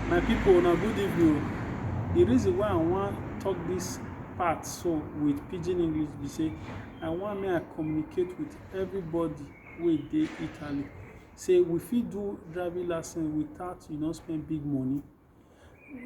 My people una good evening o. The reason why I wan talk this part so with pidgin English be say I wan make I communicate with everybody wey dey Italy say we fit do driving license without you no spend big money.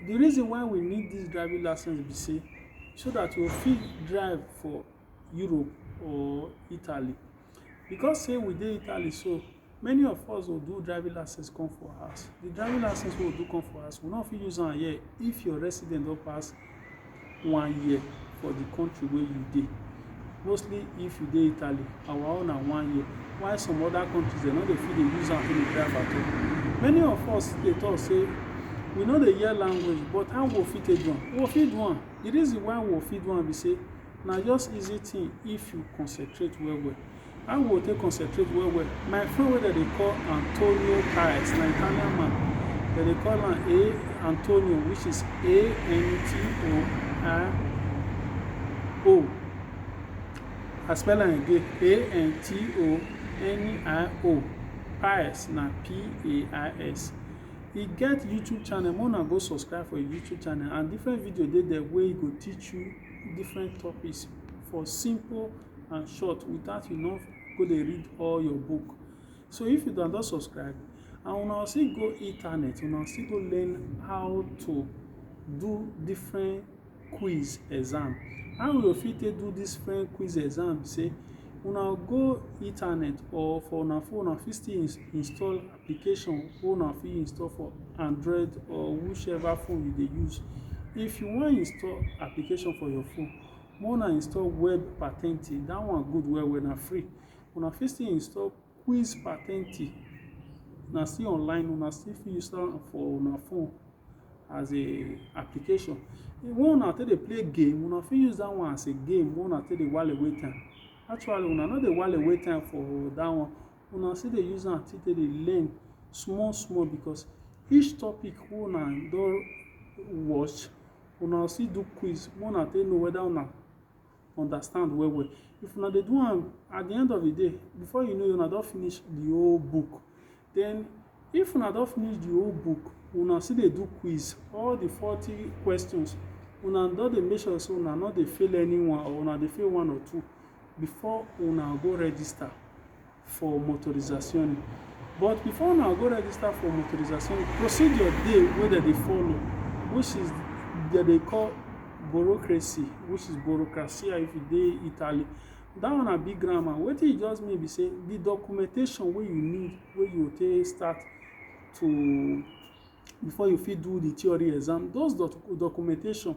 The reason why we need this driving license be say so that we fit drive for Europe or Italy because say we dey Italy so Many of us go do driving license come for house. The driving license wey we do come for house, we no fit use am here if your resident don pass one year for the country wey you dey. Mostly if you dey Italy, our own na one year. While some other countries, dem no dey fit dey use am fit dey drive at all. Many of us dey talk say we no dey hear language, but how we fit take do am? We fit do am. The reason why we fit do am be say na just easy thing if you concentrate well well. How we go take concentrate well well. My friend wey dem dey call Antonio Paes na Italian man. Dem dey call am A Antonio which is A N T O I O. I spell am again A N T O N I O. Paes na P A I S. E get YouTube channel make una go subscribe for im YouTube channel and different video dey there wey go teach you different topics for simple and short without you no go dey read all your book so if you don don subscribe and una still go internet una still go learn how to do different quiz exam how we go fit take do this different quiz exam say una go internet or for una phone una fit still install application wey una fit install for android or whichever phone you dey use if you wan install application for your phone Make una install web patenti. That one good well well. Na free. Una fit still install quiz patenti. Na still online. Una still fit use am for una phone as a application. The one una take dey play game, una fit use that one as a game wey una take dey while away time. Actually, una no dey while away time for that one. Una still dey use am take dey learn small small because each topic wey una don watch, una go still do quiz make una take know whether una understand well well if una dey do am at the end of the day before you know una don finish the whole book then if una don finish the whole book una still dey do quiz all the forty questions una don dey make sure say una no dey fail anyone or una dey fail one or two before una go register for motorizazioni. But before una go register for motorizazioni, procedure dey wey dem dey follow which is dem dey call bureaucracy which is bureaucracia if you dey Italy. Dat one na big grammar. Wetin e just mean be sey the documentation wey you need wey you go take start to before you fit do the theory exam, those documentation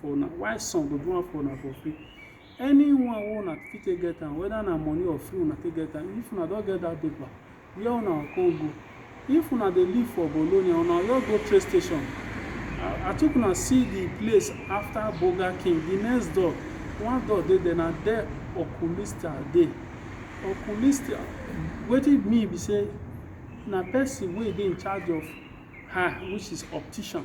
for una why some go do am for una for free anyone wey una fit take get am whether na money or free una take get am if una don get that paper where una come go if una dey live for bologna una just go train station i took una see the place after burger king the next door one door dey there na there okulista dey okulista wetin mean be say na person wey dey in charge of her which is optician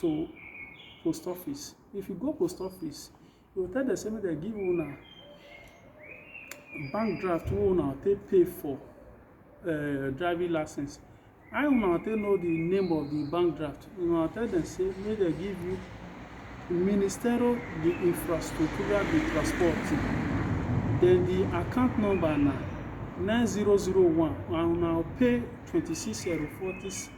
to post office if you go post office you go tell dem say make dem give una bank draft wey una take pay for uh, driving license how una take know the name of the bank draft una tell dem say make dem give you ministero de infraestrutura de transporte then the account number na nine zero zero one and una pay twenty six euro forty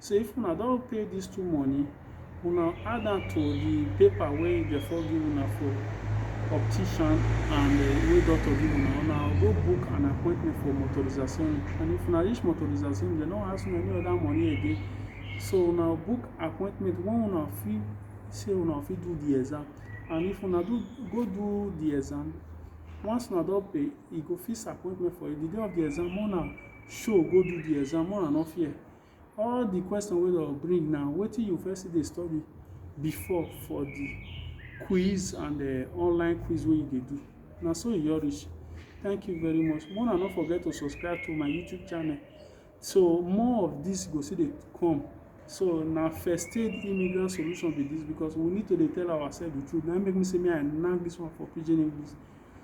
So if una don pay dis two money, una add am to di paper wey dem for give una for optician and eh, wey doctor give una, una go book an appointment for motorizzazione and if una reach motorizzazione, dem no ask una any other money again. So una book appointment when una fit say una fit do di exam and if una do go do di exam, once una don pay, e go fix appointment for you. Di day of di exam, make una. show go do the exam more and no fear all the question wey dem bring now wetin you first still dey study before for the quiz and the eh, online quiz wey you dey do na so e your reach thank you very much more and no forget to subscribe to my youtube channel so more of this go still dey come so na first aid immigrant solution be this because we need to dey tell ourselves the truth na make me say me i knack this one for pidgin english